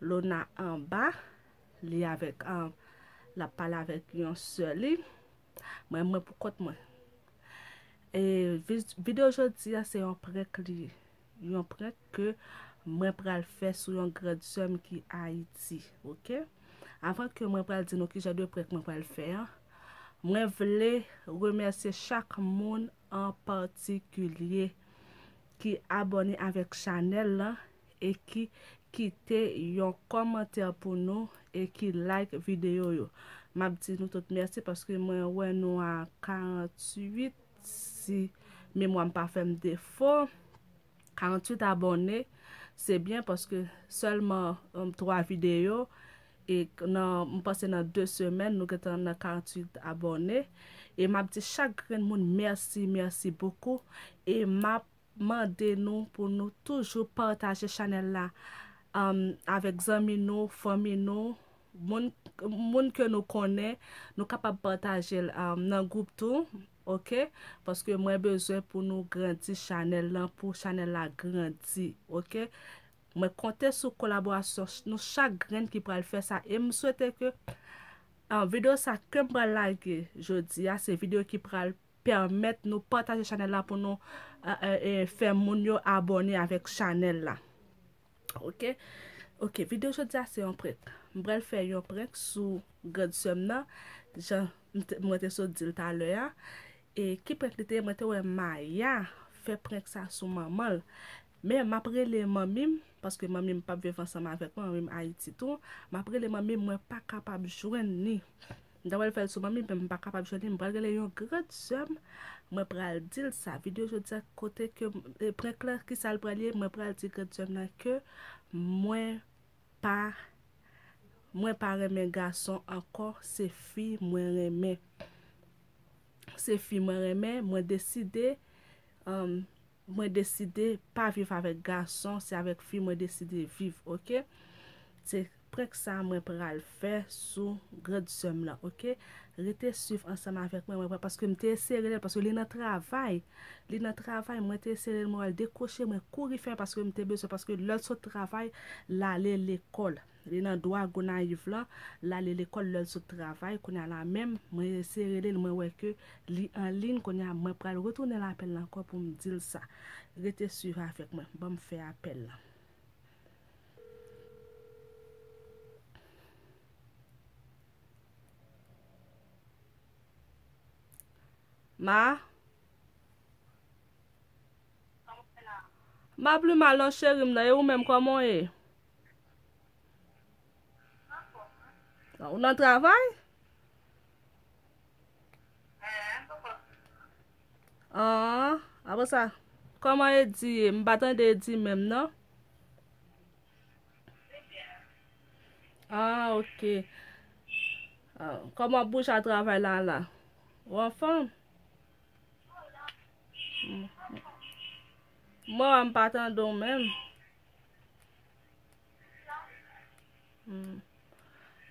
Lona anba Li avèk lap pale avèk yon sè li mwen mwen pou kont mwen e video jodi a se yon prank li ye yon prank ke mwen pral fè sou yon grand sèm ki ayiti ok avan ke mwen pral di nou ki jan de prank mwen pral fè an mwen vle remèsye chak moun an patikilye ki abone avèk chanèl lan e ki kite yon kòmantè pou nou e ki like videyo yo. M ap di nou tout mèsi paske mwen wè nou a 48 si memwa m pa fè m defo. 48 abòne, se byen paske sèlman 3 videyo e m panse nan 2 semèn nou gen tan nan 48 abòne. E m ap di chak grenn moun mèsi, mèsi bokou. E m ap. mande nou pou nou toujou pataje chanèl la avèk zanmi nou fanmi nou moun moun ke nou konnen nou kapab patajel nan group tou ok paske mwen bezwen pou nou grandi chanèl lan pou chanèl la grandi ok mwen konte sou kolaborasyon nou chak grenn ki pral fè sa e m swete ke videyo sa kem pral lage jodi a se videyo ki pral pèmèt nou pataje chanèl la pou nou fè moun yo abòne avèk chanèl la ok ok video jodi a se yon prenk m pral fè yon prenk sou grand sèm nan jan mwen te sot dil talè a e ki prenk li te mwen te wè maya fè prenk sa sou manmanl men m ap rele manmi m paske manmi m pap viv ansanm avèk mwen manmi m ayiti tou m ap rele manmi m mwen pa kapab jwenn ni. M ta pral fèl sou manmim men m pa kapab jwenn li m pral rele yon grand sèm mwen pral dil sa video jodia kote ke prank la kisal pral ye mwen pral di grand sèm nan ke mwen pa mwen pa renmen gason ankò se fi mwen renmen se fi mwen renmen mwen deside humm. mwen deside pa viv avèk gason se avèk fi mwen deside viv ok se prank sa mwen pral fè sou grand sèm lan ok rete swiv ansanm avèk mwen mwen pral paske mte eseye relel paske li nan travay li nan travay mwen te eseye relel mwen wèl dekwoche mwen kouri fè paske mte bezwen paske lèl sot travay lale lekòl. Li nan dwa Gonayiv lan, lale lekòl lèl sot travay, kounya la menm mwen eseye relel mwen wè ke li anliyn kounya mwen pral retounenl apèl la ankò poum dil sa. Rete swiv avèk mwen, banm fè apèl lan. Ma? Map li ma lò cherim nan e ou menm kòman w ye? Ou nan travay? An, apre sa, koman e di ye? M pa tande e di menm nan. An, ok. An, koman bouj a travay la la? Ou an fòm? Mwen wè m pa tande ou menm.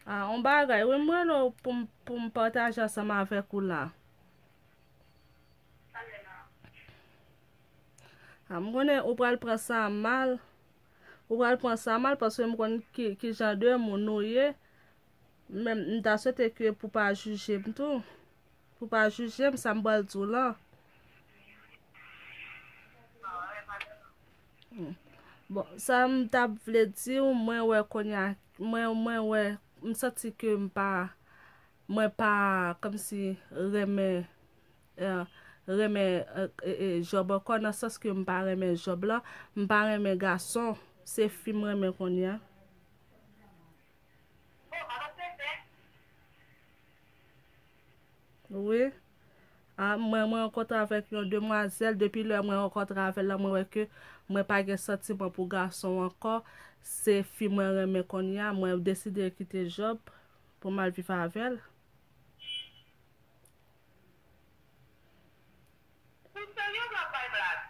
Ah, on bagay, oui, mwen lò pou m, pou m pataje ansanm avèk ou la. Ah, m konnen ou pral pran sa mal. Ou pral pran sa mal paske m konnen ki, ki jan de moun nou ye. Men m ta swete ke pou pa jije m tou. Pou pa jije m sa m pral di w lan. Bon, sa m ta vle di w, mwen wè konya, mwen mwen wè, m santi ke m pa, mwen pa kòm si renmen, eh, renmen eh, eh, eh, Jòb ankò nan sans ke m pa renmen Jòb la, m pa renmen gason, se fi m renmen konya. Wi a mwen mwen rankontre avèk yon demwazèl depi lè mwen rankontre avèl la mwen wè ke mwen pa gen santiman pou gason ankò se fi mwen renmen konnya mwen deside kite Job pou mal viv avèl. Ou serye ou wap bay blag?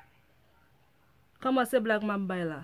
Kòman se blag map bay la?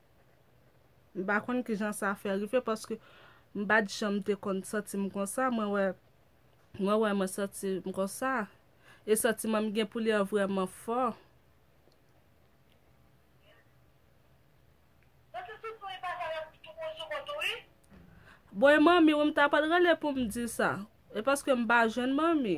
M pa konn ki jan sa fè rive paske m pa t janm te konn santi m konsa. Mwen wè mwen wè mwen santi m konsa. E santiman m gen pou li an vrèman fò. Bon e manmi w m ta pral rele pou m di sa. E paske m pa jwenn manmi.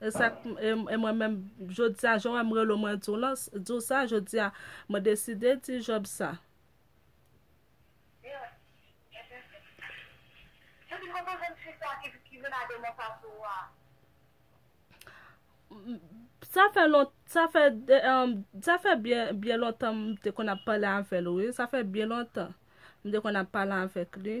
E sa k, e mwen menm, jodi a, jan w wè m rele w mwen di w lan, di w sa, jodi a, mwen deside di Jòb sa. Yo, epi, yo di m kote w jwenn fi sa ki vin a demon sa sou ou a? Sa fè lon, sa fè, sa fè byen, byen lontan m te konn ap pale avè l wi, sa fè byen lontan m te konn ap pale avèk li.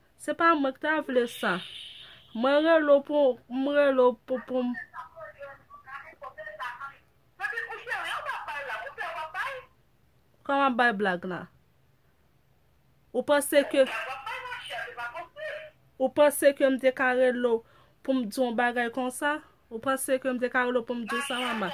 Se pa mwen ki ta vle sa. Mwen rele w pou m rele w pou pou m. Kòm w ap bay blag la. Ou panse ke. Ou panse ke m te ka rele w pou m di w yon bagay konsa? Ou panse ke m te ka rele w pou m di w sa mama?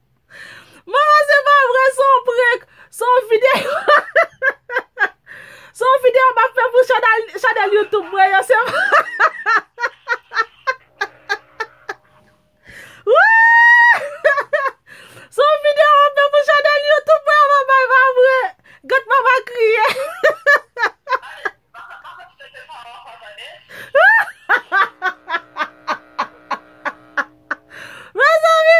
Mama se pa vre se yon prank Se yon video Se yon video map fè pou chanel youtube mwen yo se Se yon video map fè pou chanel youtube mwen yo mama e pa vre Gad mama kriye Mezanmi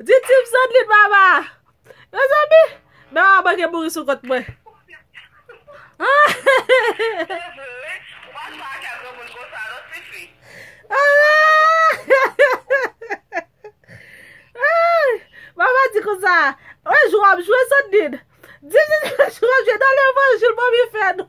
Di Tim sot li mama. Mezanmi, men mama manke mouri sou kont mwen. Mama di kon sa. Wè jou ap jwe sot li. Di li jou ap jwe nan levanjil mami fè nou.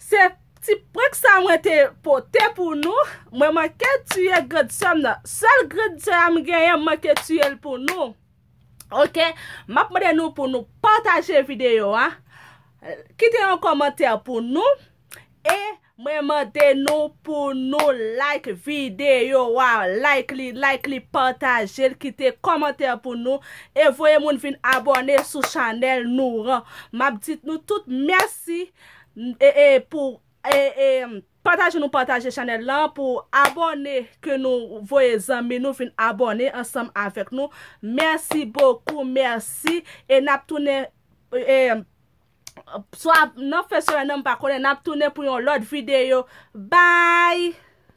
Se ti prank sa mwen te pote pou nou, mwen manke tiye grand sèm nan, sèl grand sè a m genyen m manke tiye l pou nou ok, m ap mande nou pou nou pataje videyo a, kite yon kòmantè pou nou e mwen mande nou pou nou like videyo a, like li, like li, pataje l, kite kòmantè pou nou. E voye moun vin abòne sou chanèl nouran map dit nou tout mèsi e pou e pataje nou pataje chanèl lan pou abòne ke nou voye zanmi nou vin abòne ansanm avèk nou mèsi bokou mèsi e nap tounen e swa nan fen semèn nan mpa konnen nap tounen pou yon lòt videyo baay.